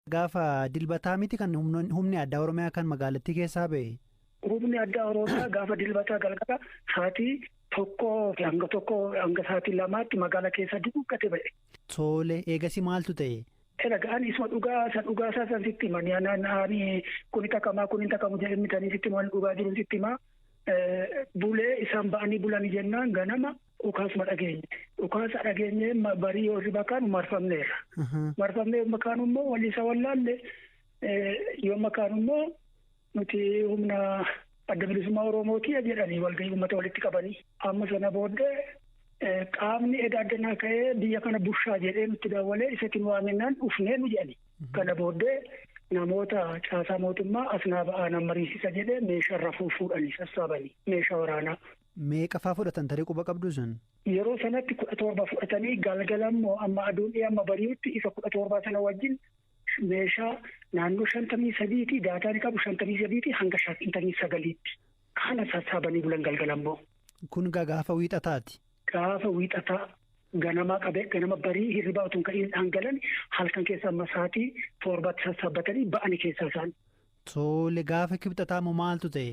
Gaafa Dilbataa miti kan humni addaa Oromiyaa kan magaalattii keessaa ba'e? Humni addaa Oromiyaa gaafa Dilbataa galgala sa'aatii tokkoo fi hanga tokkoo hanga sa'aatii lamaatti magaalaa keessa duguuggate ba'e. Tole eegasii maaltu ta'e? Egaa ani isuma dhugaa isa dhugaa isaa san sitti hima. Ani kuni takamaa kuni takamu jedhee mitanii sitti hima dhugaa jiru sitti hima. Bulee isaan ba'anii bulanii jennaan ganama dhukaasuma dhageenye. Dhukaasa dhageenye barii warri bakaan marfamneerra. Marfamnee yommuu kaanu immoo walii isa wallaalle yommuu kaanu immoo nuti humna adda bilisummaa Oromooti jedhanii walgahii uummata walitti qabanii. Amma sana booddee qaamni edaa addanaa ka'ee biyya kana bushaa jedhee nutti daawwalee isatiin waaminaan dhufnee nu jedhani. Kana booddee namoota caasaa mootummaa asnaa ba'aa nan mariisisa jedhee meeshaa rafuu fuudhanii sassaabanii meeshaa waraanaa Meeqa faa fudhatan tarii quba qabduu san? Yeroo sanatti 17 fudhatanii galgala immoo amma aduun dhi'ee amma bari'utti isa 17 sana wajjin meeshaa naannoo 53 ti daataan qabu 53 ti hanga 59 tti. Kana sassaabanii bulan galgala immoo. Kun gaa gaafa wiixataati. Gaafa wiixataa ganamaa qabee ganama barii hirribaa utuu hin ka'iin dhaan galan halkan keessa amma sa'aatii torbaatti sassaabbatanii ba'ani keessaa isaan. Tole gaafa kibxataa moo maaltu ta'e?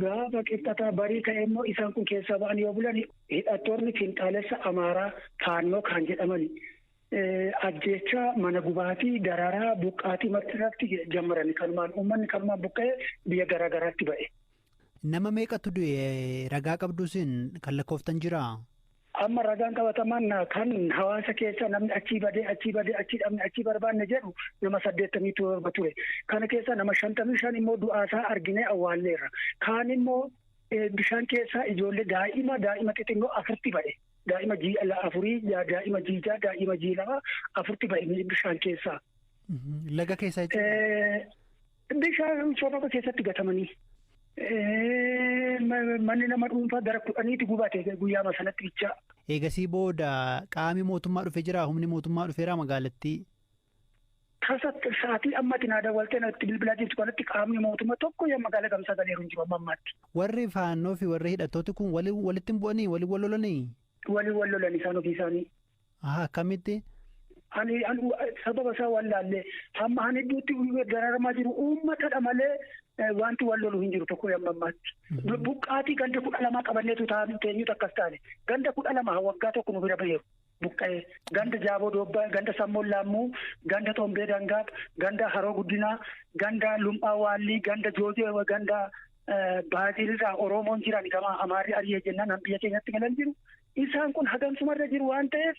Gaafa kibxataa barii ka'ee immoo isaan kun keessaa ba'an yoo bulan hidhattoonni finxaalessa Amaaraa Faannoo kaan jedhaman ajjeechaa mana gubaatii dararaa buqqaatii marti irratti jammarani kanumaan uummanni kanumaan buqqa'ee biyya garaa garaatti ba'e. Nama meeqatu du'e ragaa qabduu sin kan lakkooftan jiraa? Amma ragaan qabatamaan kan hawaasa keessa namni achii badee achii badee achii dhabne achii barbaanne jedhu nama saddeettamii torba ture. Kana keessa nama shantamii shan immoo du'aasaa arginee awwaalleerra. Kaan immoo bishaan keessa ijoollee daa'ima daa'ima xixinnoo afurti ba'e. Daa'ima jiila afurii daa'ima jiijaa daa'ima jiilama afurti ba'e bishaan keessaa. Laga keessa jechuudha. Bishaan sababa keessatti gatamanii manni nama dhuunfaa gara kudhaniitti gubate guyyaama sanatti bichaa. Eegasii booda qaami mootummaa dhufe jira humni mootummaa dhufeera magaalattii. Tasa sa'aatii ammatti naa dawwaltee natti bilbilaa jirtu kanatti qaamni mootummaa tokko yaa magaalaa gamsaa galeeru hin jiru amma ammaatti. Warri faannoo fi warri hidhattooti kun walitti hin bu'anii waliin wal lolanii? Waliin wal lolan isaan ofii isaanii. Aha akkamitti? Ani an sababa isaa waan laallee hamma han hedduutti dararamaa jiru uummatadha malee wanti wal lolu hin jiru tokko amma ammaatti. Buqqaatii ganda kudha lamaa qabanneetu taa'an teenyutu akkas taane. Ganda kudha lama waggaa tokko nu bira baheeru. Buqqa'ee ganda jaaboo doobbaa ganda sammoon laammuu ganda xombee dangaab ganda haroo guddinaa ganda lum'aa waallii ganda joojoo ganda baazilirraa oromoon jiran gama amaarri ari'ee jennaan biyya keenyatti galan jiru. Isaan kun hagansuma irra jiru waan ta'eef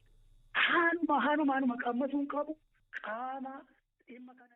haaluma haaluma haaluma qammasuun qabu qaama dhimma kana.